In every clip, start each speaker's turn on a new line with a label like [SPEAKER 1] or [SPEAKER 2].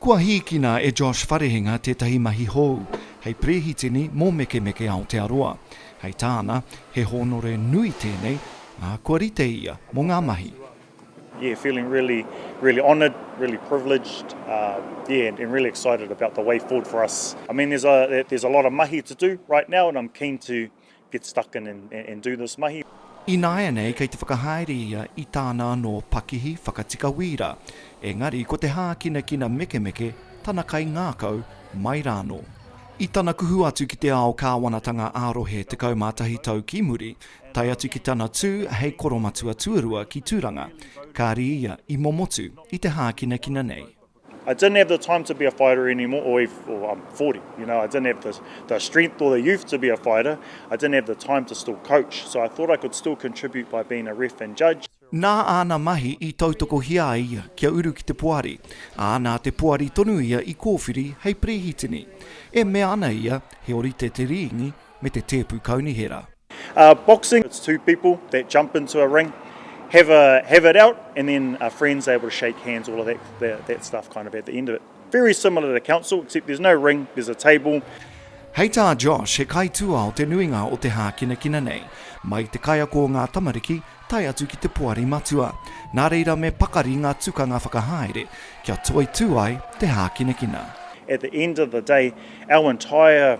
[SPEAKER 1] Kua hīkina e Josh Wharehinga tētahi mahi hou hei Perehitini mō Mekemeke Aotearoa. Hei tāna, he hōnore nui tēnei, ā, kua rite ia mō ngā mahi. Yeah, feeling
[SPEAKER 2] really, really honoured, really privileged, yeah, and really excited about the way forward for us. I mean, there's a lot of mahi to do right now and I'm keen to get stuck in and and do this mahi. Ināianei kei
[SPEAKER 1] te whakahaere ia i tāna anō pakihi whakatika wīra, engari ko te hākinakina mekemeke tana kaingākau mai rānō. I tana kuhu atu ki te ao kāwanatanga ā-rohe 11 tau ki muri, tae atu ki tana tū hei koromatua tuarua ki Tūranga, kāri ia i momotu i te hākinakina nei. I didn't have the
[SPEAKER 2] time to be a fighter anymore or even, well I'm 40 you know, I didn't have the, the strength or the youth to be a fighter, I didn't have the time to still coach so I thought I could still contribute by being a ref and judge. Nā āna mahi
[SPEAKER 1] i tautokohia ai ia kia uru ki te poari, ā, nā te poari tonu ia i kōwhiri hei Perehitini. E mea ana ia, he orite te rīngi, me te tēpu kaunihera. Boxing,
[SPEAKER 2] it's two people that jump into a ring, have a have it out and then are friends, they're able to shake hands, all of that that that stuff kind of at the end of it. Very similar to council, except there's no ring, there's a table. Hei tā
[SPEAKER 1] Josh, he kaituā o te nuinga o te hākinakina nei, mai te kaiako o ngā tamariki tae atu ki te poari matua. Nā reira me pakari ngā tukanga whakahaere kia toitū ai te hākinakina. At the end of
[SPEAKER 2] the day, our entire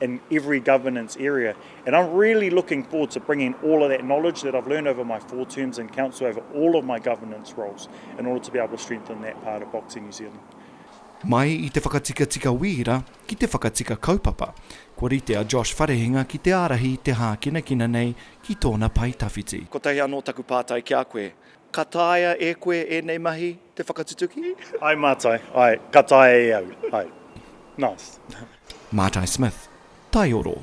[SPEAKER 2] in every governance area and I'm really looking forward to bringing all of that knowledge that I've learned over my four terms in council over all of my governance roles in order to be able to strengthen that part of Boxing New Zealand. Mai i
[SPEAKER 1] te whakatikatika wīra ki te whakatika kaupapa, kua rite a Josh Wharehinga ki te ārahi i te hākinakina nei ki tōna pae tawhiti. Kotahi anō taku pātai ki a koe, ka taea e koe ēnei mahi te whakatutuki? Ae mātai,
[SPEAKER 2] ae, ka taea e au,
[SPEAKER 1] ae.
[SPEAKER 2] Nice.
[SPEAKER 1] Matai
[SPEAKER 2] Smith,
[SPEAKER 1] Taioro.